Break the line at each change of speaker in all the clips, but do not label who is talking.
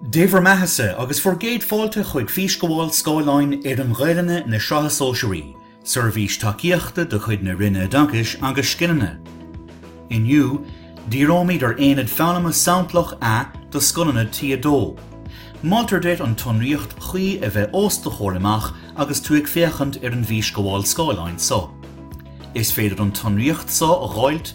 Dé bhur mbeathasa agus bhur gcéad fáilte chuig Físghabháil Scáileáin Fhoireann Ghaelainne na Sraithe Sóisearaí, seirbhís tacaíochta de chuid na Roinne Oideachais agus Scileanna. Inniu, díreoimid ar Aonad Foghlama Samplach A do scoileanna T2. Moltar duit an tsonraíocht chuí a bheith os do chomhair amach agus tú ag féachaint ar an bhfísghabháil scáileáin so. Is féidir an tsonraíocht so a dh'fháilt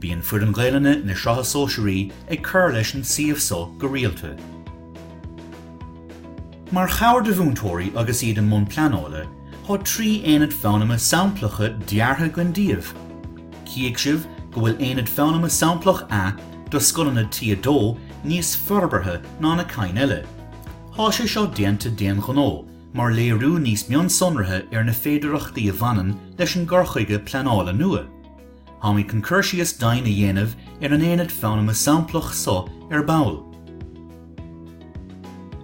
Bíonn foireann Gaelainne na Sraithe Sóisearaí ag cur leis an suíomh so go rialta. Mar chabhair do mhúinteoirí agus iad i mbun pleanála, tá trí aonad foghlama samplacha deartha againn daoibh. Chífidh sibh go bhfuil Aonad Foghlama Samplach A do scoileanna T2 níos forbartha ná na cinn eile. Tá sé seo déanta d'aon ghnó mar léiriú níos mionsonraithe ar na féidearthachtaí a bhaineann leis an gcur chuige pleanála nua. Táimid chun cur síos doimhin a dhéanamh ar an aonad foghlama samplach so ar ball.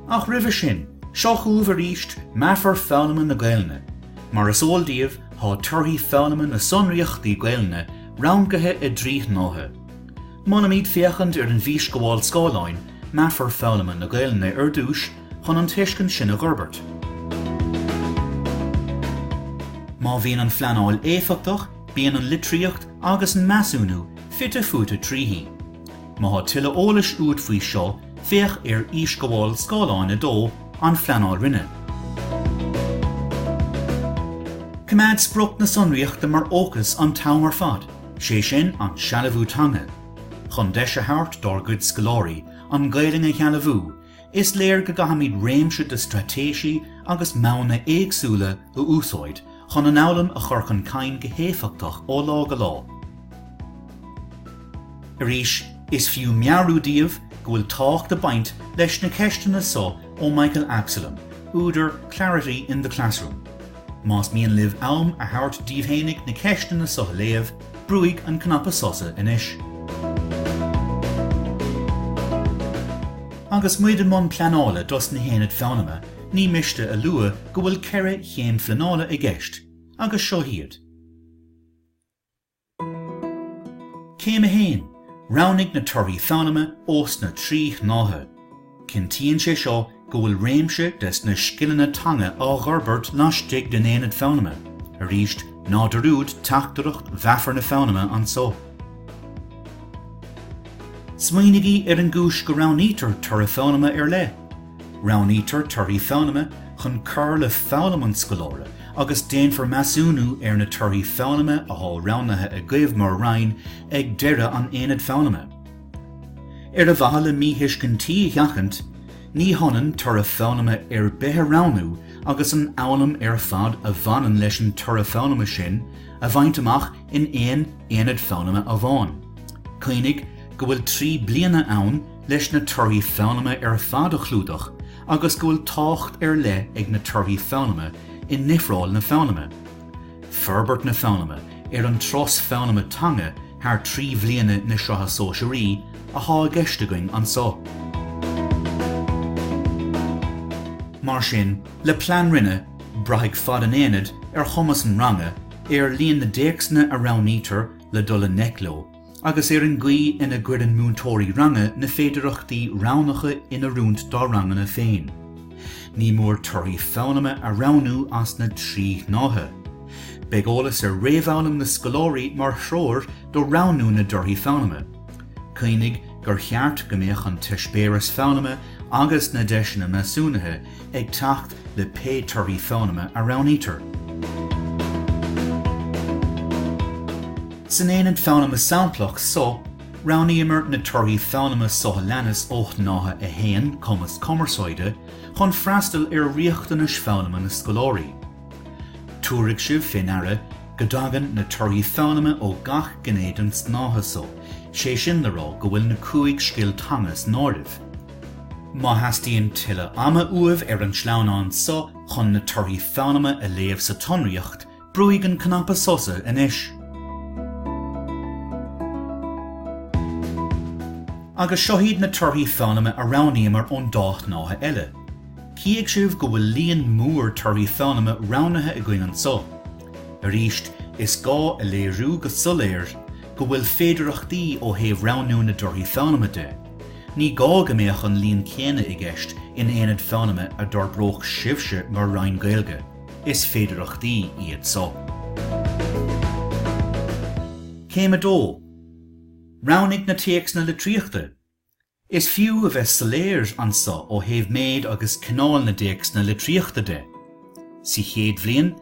Ach roimhe sin, seo chugaibh arís meafar foghlama na Gaelainne. Mar is eol daoibh, tá torthaí foghlama na sonraíochtaí Gaelainne rangaithe i dtrí shnáithe. Molaimid féachaint ar an bhfísghabháil scáileáin, Meafair Foghlama na Gaelainne ar dtús chun an tuiscint sin a dh'fhorbairt. Má bhíonn an phleanáil éifeachtach, Bíonn an litríocht agus an measúnú fite fuaite tríthi. Má tá tuilleadh eolais uait faoi seo, féach ar Fhísghabháil Scáileáin 2, An Phleanáil Roinne. Coimeád sprioc na sonraíochta mar fhócas an t-am ar fad, sé sin, an sealbhú teanga. Chun deis a thabhairt dár gcuid scoláirí an Ghaelainn a shealbhú, Is léir go gcaithfimid réimse de straitéisí agus modhanna éagsúla a úsáid chun an fhoghlaim a chur chun cinn go héifeachtach ó lá go lá. Arís, is fiú meabhrú daoibh go bhfuil tábhacht ag baint leis na ceisteanna so ó Michael Absolum, údar Clarity in the Classroom. Más mian libh am a thabhairt daoibh fhéinig na ceisteanna so a léamh, Brúigh an cnaipe sosa anois. Agus muid i mbun pleanála dos na haonaid foghlama, ní miste a lua go bhfuil ceithre chéim phleanála i gceist, agus seo iad. Céim 1, Roghnaigh na torthaí foghlama ós na trí shnáithe. Cinntíonn sé seo go bhfuil réimse des na scileanna teanga á dh'fhorbairt laistigh den aonad foghlama, arís ná dearúd teachtaireacht mheafar na foghlama anso. Smaoinigí ar an gcúis go roghnaítear toradh foghlama ar leith. Roghnaítear torthaí foghlama chun cur le foghlaim an scoláire agus déanfar measúnú ar na torthaí foghlama athá roghnaithe agaibh mar Roinn ag deireadh an aonaid foghlama. Ar mhaithe le míthuiscintí a sheachaint, ní hionann toradh foghlama ar bith a roghnú agus an fhoghlaim ar fad a bhaineann leis an toradh foghlama sin a bhaint amach in aon aonad foghlama amháin. Cuimhnigh go bhfuil trí bliana ann leis na torthaí foghlama ar fad a chlúdach agus go bhfuil tábhacht ar leith ag na torthaí foghlama i ndifreáil na foghlama. Forbairt na foghlama ar an turas foghlama teanga thar trí bhliana na Sraithe Sóisearaí atá i gceist againn anso. Mar sin, le Plean Roinne, braithfidh fad an aonaid ar chumas an ranga, ar líon na dtéacsanna a roghnaítear le dul i ngleic leo, agus ar an gcaoi ina gcuireann múinteoirí ranga na féidearthachtaí roghnacha in oiriúint dá ranganna féin. Ní mór torthaí foghlama a roghnú as na trí shnáithe. Beidh eolas ar réamhfhoghlaim na scoláirí mar threoir do roghnú na dtorthaí foghlama. Cuimhnigh gur cheart go mbeadh an t-eispéireas foghlama agus na deiseanna measúnaithe ag teacht le pé torthaí foghlama a roghnaítear. San aonad foghlama samplach so, roghnaíomar na torthaí foghlama so a leanas ó Shnáithe 1, Cumas Cumarsáide, chun freastal ar riachtanais foghlama na scoláirí. Tabharfaidh sibh fé ndeara go dtagann na torthaí foghlama ó gach gné den tsnáithe so, sé sin le rá go bhfuil na cúig scil teanga san áireamh. Má theastaíonn tuilleadh ama uaibh ar an tsleamhnán so chun na torthaí foghlama a léamh sa tsonraíocht, brúigh an cnaipe sosa anois. Agus seo iad na torthaí foghlama a roghnaíomar ón dá shnáithe eile. Cífidh sibh go bhfuil líon mór torthaí foghlama roghnaithe againn anso. Arís, is gá a léiriú go soiléir go bhfuil féidearthachtaí ó thaobh roghnú na dtorthaí foghlama de. Ní gá go mbeadh an líon céanna i gceist in aonad foghlama a d'fhorbródh sibhse mar Roinn Gaeilge, is féidearthachtaí iad so. Céim 2, Roghnaigh na téacsanna litríochta. Is fiú a bheith soiléir anso ó thaobh méid agus cineál na dtéacsanna litríochta de. Sa chéad bhliain,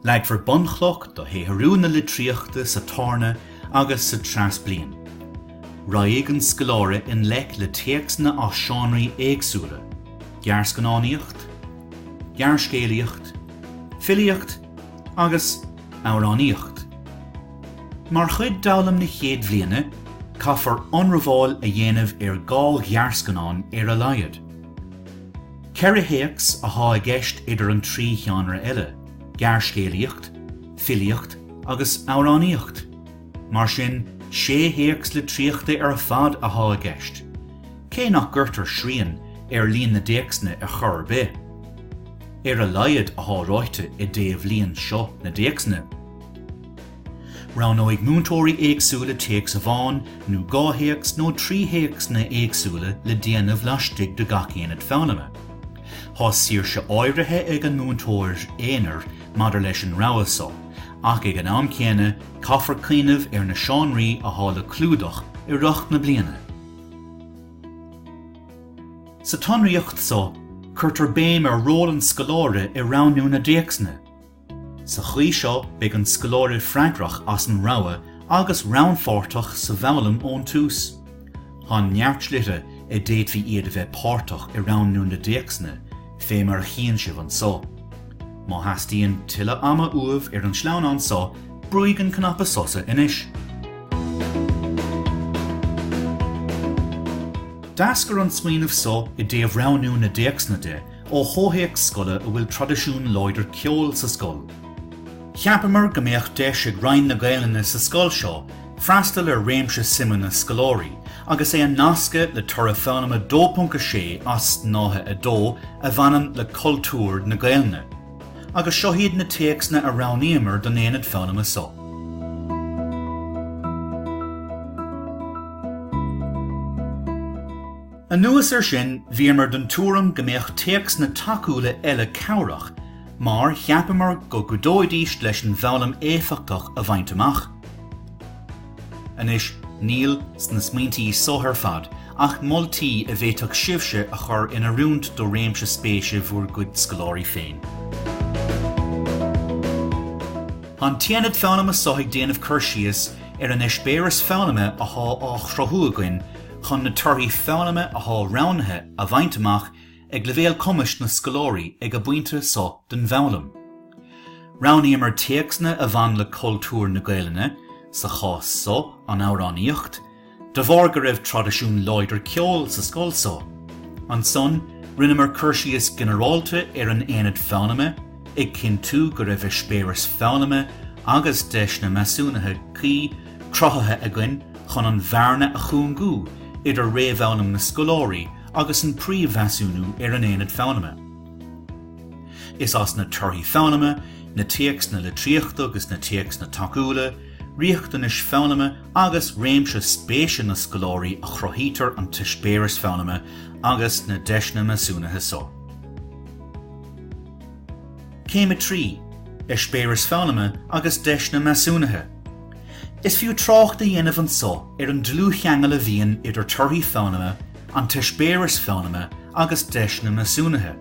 Leagfar bunchloch do shaothrú na litríochta sa Tarna agus sa Treas Bliain. Raghaidh an scoláire i ngleic le téacsanna as seánraí éagsúla, gearrscannánaíocht, gearrscéalaíocht, filíocht agus amhránaíocht. Mar chuid d'fhoghlaim na Chéad Bhliana, caithfear ionramháil a dhéanamh ar dhá ghearrscannán ar a laghad. Ceithre théacs athá i gceist idir an trí sheánra eile, gearrscéalaíocht, filíocht agus amhránaíocht. Mar sin, sé théacs litríochta ar fad athá i gceist, cé nach gcuirtear srian ar líon na dtéacsanna ar chor ar bith. Ar a laghad athá ráite i dtaobh líon seo na dtéacsanna. Roghnóidh múinteoirí éagsúla téacs amháin nó dhá théacs nó trí théacsanna éagsúla le déanamh laistigh de gach aonad foghlama. Tá saoirse áirithe ag an múinteoir aonair maidir leis an rogha seo, ach ag an am céanna caithfear cuimhneamh ar na seánraí athá le clúdach i rith na bliana. Sa tsonraíocht seo, cuirtear béim ar ról an scoláire i roghnú na dtéacsanna. Sa chaoi seo beidh an scoláire freagrach as an rogha agus rannpháirteach sa bhfoghlaim ón tús. Tá neart slite a bhféadfaí iad a bheith páirteach i roghnú na dtéacsanna, fé mar a chíonn sibh anso. Má theastaíonn tuilleadh ama uaibh ar an sleamhnán so, brúigh an cnaipe sosa anois. D'eascair an smaoineamh so i dtaobh roghnú na dtéacsanna de Ó chomhthéacs scoile a bhfuil traidisiún láidir ceoil sa scoil, cheapamar go mbeadh deis ag Roinn na Gaelainne sa scoil seo freastal ar réimse suimeanna scoláirí agus é a nascadh le toradh foghlama 2.6 as Snáithe 2 a bhaineann le cultúr na Gaelainne agus seo iad na téacsanna a roghnaíomar don aonad foghlama so. Anuas ar sin, bhíomar den tuairim go mbeadh téacsanna tacúla eile cabhrach mar cheapamar go gcuideoidís leis an bhfoghlaim éifeachtach a bhaint amach. Anois, níl sna smaointí so ar fad ach moltaí a bhféadfadh sibhse a chur in oiriúint do réimse spéise bhur gcuid scoláirí féin. Tá an tAonad Foghlama so ag déanamh cur síos ar an eispéireas foghlama athá á chruthú againn, chun na torthaí foghlama athá roghnaithe a bhaint amach ag leibhéal cumais na scoláirí ag a bpointe seo den bhfoghlaim. Roghnaíomar téacsanna a bhain le cultúr na Gaelainne, sa chás so, an amhránaíocht, de bharr go raibh traidisiún láidir ceoil sa scoil so. Ansan rinneamar cur síos ginearálta ar an aonad foghlama, ag cinntiú go raibh eispéireas foghlama agus deiseanna measúnaithe cuí, cruthaithe againn chun an bhearna a chúngú idir réamhfhoghlaim na scoláirí agus an príomh-mheasúnú ar an aonad foghlama. Is as na torthaí foghlama, na téacsanna litríochta agus na téacsanna tacúla, riachtanais foghlama agus réimse spéise na scoláirí a chruthaítear an t-eispéireas foghlama agus na deiseanna measúnaithe so. Céim 3, Eispéireas Foghlama agus Deiseanna Measúnaithe Is fiú trácht a dhéanamh anso ar an dlúthcheangal a bhíonn idir torthaí foghlama, an t-eispéireas foghlama agus deiseanna measúnaithe.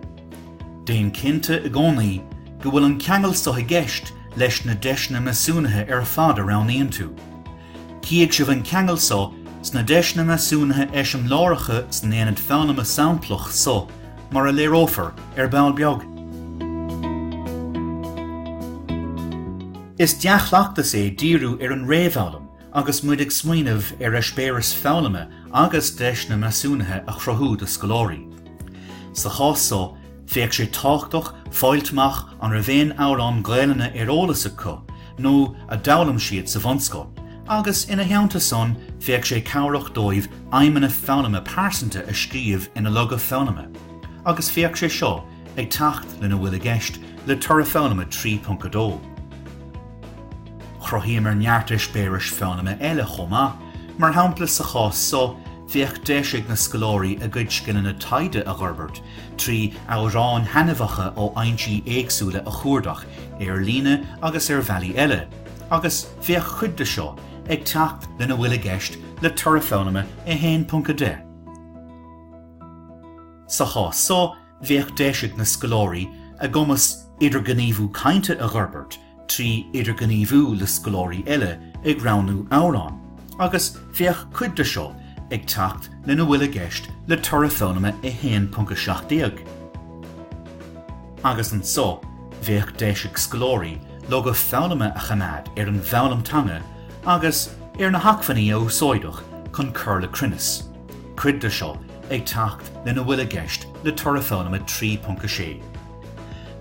Déan cinnte i gcónaí go bhfuil an ceangal so i gceist leis na deiseanna measúnaithe ar fad a roghnaíonn tú. Cífidh sibh an ceangal so sna deiseanna measúnaithe eiseamláireacha san Aonad Foghlama Samplach so mar a léireofar ar ball beag. Is dea-chleachtas é díriú ar an réamhfhoghlaim agus muid ag smaoineamh ar eispéireas foghlama agus deiseanna measúnaithe a chruthú do scoláirí. Sa chás so, bheadh sé tábhachtach fáil amach an raibh aon amhrán Gaelainne ar eolas acu nó a d'fhoghlaim siad sa bhunscoil agus, ina theannta san, bheadh sé cabhrach dóibh aidhmeanna foghlama pearsanta a scríobh ina loga foghlama agus bheadh sé seo ag teacht lena bhfuil i gceist le Toradh Foghlama 3.2. Chruthaíomar neart eispéiris foghlama eile chomh maith, mar shampla sa chás so bheadh deis ag na scoláirí a gcuid scileanna taighde a dh'fhorbairt trí amhráin thaitneamhacha ó aicmí éagsúla a chuardach ar líne agus ar bhealaí eile agus bheadh cuid de seo ag teacht lena bhfuil i gceist le Toradh Foghlama 1.10. Sa chás so, bheadh deis ag na scoláirí a gcumas idirghníomhú cainte a dh'fhorbairt trí idirghníomhú le scoláirí eile ag roghnú amhrán agus bheadh cuid de seo ag teacht lena bhfuil i gceist le Toradh Foghlama 1.17. Agus anso, bheadh deis ag scoláirí loga foghlama a choimeád ar an bhfoghlaim teanga agus ar na hacmhainní a úsáideadh chun cur le cruinneas, cuid de seo ag teacht lena bhfuil i gceist le Toradh Foghlama 3.6.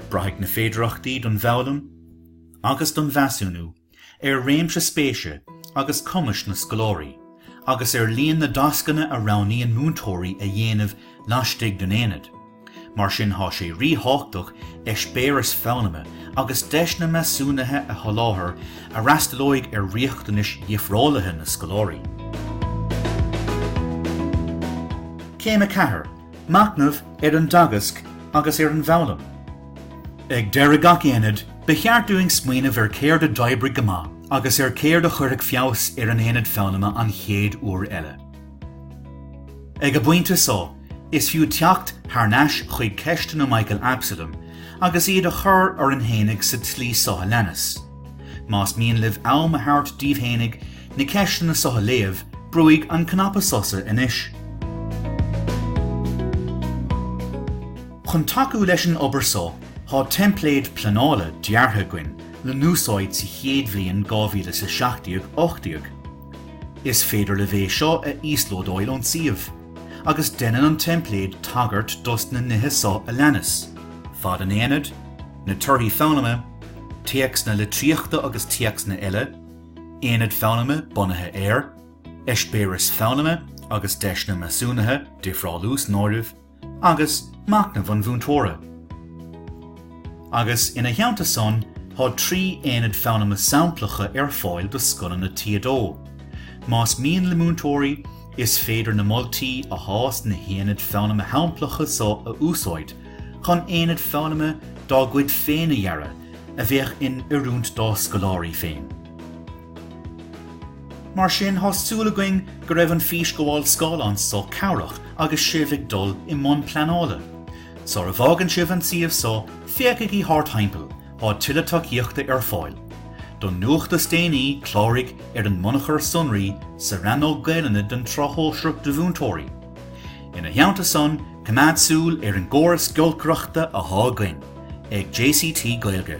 Braithfidh na féidearthachtaí don bhfoghlaim agus don mheasúnú. ar réimse spéise agus cumais na scoláirí agus ar líon na dtascanna a roghnaíonn múinteoirí a dhéanamh laistigh den aonad, mar sin tá sé ríthábhachtach eispéireas foghlama agus deiseanna measúnaithe a sholáthar a fhreastalóidh ar riachtanais dhifreálaithe na scoláirí. Céim 4, Machnamh ar an dteagasc agus ar an bhfoghlaim. Ag deireadh gach aonaid, ba cheart dúinn smaoineamh ar céard a d'oibrigh go maith agus ar céard a chuirfeadh feabhas ar an aonad foghlama an chéad uair eile. Ag an bpointe so, is fiú teacht thar n-ais chuig ceisteanna Michael Absalom agus iad a chur orainn fhéinig sa tslí so a leanas, Más mian libh am a thabhairt daoibh fhéinig, na ceisteanna seo a léamh, brúigh an cnaipe sosa anois. Chun tacú leis an obair seo, thá teimpléad pleanála deartha againn le n-úsáid sa chéad bhliain 2017 18. Is féidir libh é seo a íoslódáíl ón suíomh, agus deineann an teimpléad tagairt dos na nithe seo a leanas, fad an aonaid, na torthaí foghlama, téacsanna litríochta agus téacsanna eile, Aonad foghlama bunaithe ar, eispéiris foghlama agus deiseanna measúnaithe, difreálú san áireamh, agus machnamh an mhúinteora. Agus, ina theannta san, thá trí aonad foghlama samplacha ar fáil do scoileanna T2. Más mian le múinteoirí, is féidir na moltaí athá sna haonaid foghlama shamplacha so a úsáid chun aonaid foghlama dá gcuid féin a dhearadh, a bheadh in oiriúint dá scoláirí féin. Mar sin, thá súil againn go raibh an físghabháil scáileáin so cabhrach agus sibh ag dul i mbun pleanála. Sar a bhfágann sibh an suíomh so, féachaigí thart thimpeall, thá tuilleadh tacaíochta ar fáil. Don nuacht is déanaí, cláraigh ar an mbunachar sonraí sa rannóg Gaelainne den tSraith Shóisearach do Mhúinteoirí. Ina theannta san, coimeád súil ar an gcóras giolcaireachta athá againn ag JCT Gaeilge.